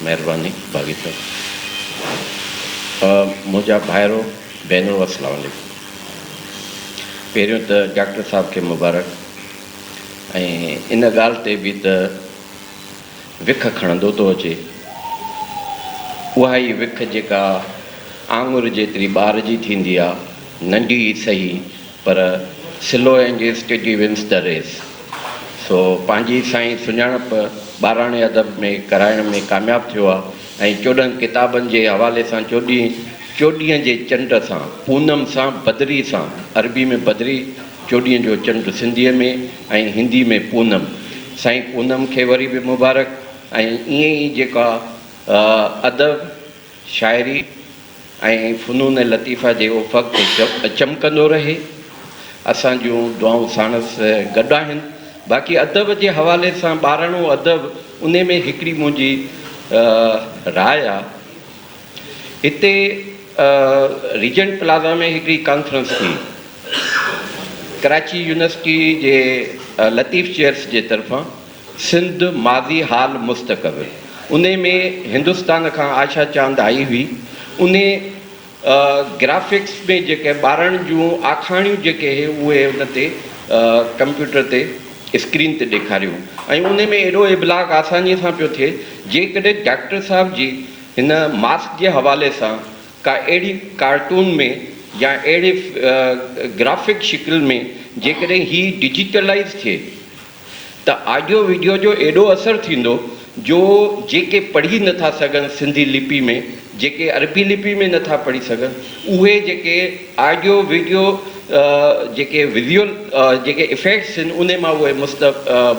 مهرباني باغي صاحب منهنجا ڀائرو ڀينرو السلام عليڪم پهريون ته ڊاڪٽر صاحب کي مبارڪ ۽ ان ڳالهه تي به ته وک کڻندو ٿو اچي اها ئي وک جيڪا آڱر جيتري ٻار جي ٿيندي آهي ننڍي ئي سهي پر سلو انگيز ٽيڊي ونس دي ريس سو پنهنجي سائين سڃاڻپ ٻاراڻي ادب ۾ ڪرائڻ ۾ ڪامياب ٿيو آهي ۽ چوڏهن ڪتابن جي حوالي سان چوڏهين چوڏهين جي چنڊ سان پونم سان بدري سان عربي ۾ بدري چوڏهين جو چنڊ سنڌيء ۾ ۽ هندي ۾ پونم سائين پونم کي وري به مبارڪ ۽ ائين ئي جيڪا ادب شاعري ۽ فنون لطيفه جي افق تي چمڪندو رهي. اسان جون دعائون ساڻس گڏ آهن. باقي ادب جي حوالي سان ٻاراڻو ادب انهي ۾ هڪڙي منهنجي راء آ. هتي ريجنٽ پلازا ۾ هڪڙي ڪانفرنس ٿي. ڪراچي يونيورسٽي جي لطيف چيئرس جي طرفان. سنڌ، ماضي، حال، مستقبل، انهي ۾ هندستان کان آشا چاند آئي هئي، انهي گرافڪس ۾ جيڪي ٻارڻ جون آکاڻيون جيڪي هي اهي ان تي ڪمپيوٽر تي اسڪرين تي ڏيکاريون ۽ انهي ۾ ايڏو ابلاغ آساني سان پيو ٿئي جيڪڏهن ڊاڪٽر صاحب جي هن ماسڪ جي حوالي سان ڪا اهڙي ڪارٽون ۾ يا اهڙي گرافڪ شڪل ۾ جيڪڏهن هي ڊجيٽلائيز ٿئي ته آڊيو وڊيو جو ايڏو اثر ٿيندو جو جيڪي پڙهي نٿا سگهن سنڌي لپي ۾ جيڪي عربي لپي ۾ نٿا پڙهي سگهن اهي جيڪي آڊيو وڊيو جيڪي وزيول جيڪي افيڪٽس آهن انهي مان اهي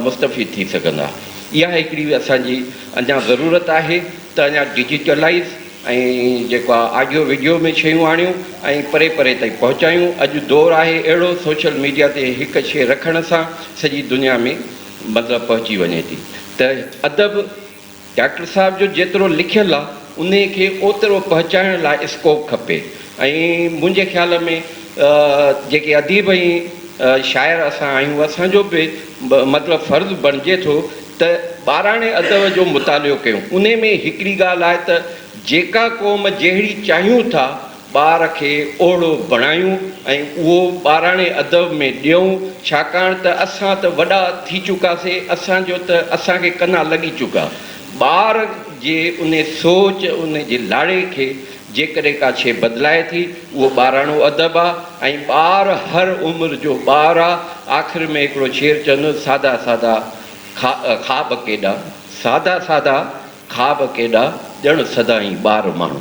مستفيد ٿي سگهندا اها هڪڙي اسان جي اڃا ضرورت آهي ته اڃا ڊجيٽلائز ۽ جيڪو آ آڊيو وڊيو ۾ شيون آڻيون ۽ پري پري تائين پهچايون اڄ دور آهي اهڙو سوشل ميڊيا تي هڪ شي رکڻ سان سڄي دنيا ۾ مطلب پهچي وڃي ٿي ته ادب ڊاڪٽر صاحب جو جيترو لکيل آ انهي کي اوترو پهچائڻ لاء اسڪوپ کپي ۽ منهنجي خيال ۾ جيڪي اديب ۽ شاعر اسان آهيون اسان جو به مطلب فرض بڻجي ٿو ته ٻاراڻي ادب جو مطالعو ڪيون. انهي ۾ هڪڙي ڳالهه آهي ته جيڪا قوم جهڙي چاهيون ٿا ٻار کي اهڙو بڻايون ۽ اهو ٻاراڻي ادب ۾ ڏيون ڇاڪاڻ ته اسان ته وڏا ٿي چڪاسي اسان جو ته اسان کي ڪنا لڳي چڪا ٻار جي انهي سوچ انهي جي لاڙي کي جيڪڏهن ڪا شيء بدلائي ٿي، اهو ٻاراڻو ادب آ ۽ ٻار هر عمر جو ٻار آ. آخر ۾ هڪڙو شير چوندس، سادا سادا کا خاب ڪيڏا، سادا سادا خاب ڪيڏا، ڄڻ سدائين ٻار ماڻهو.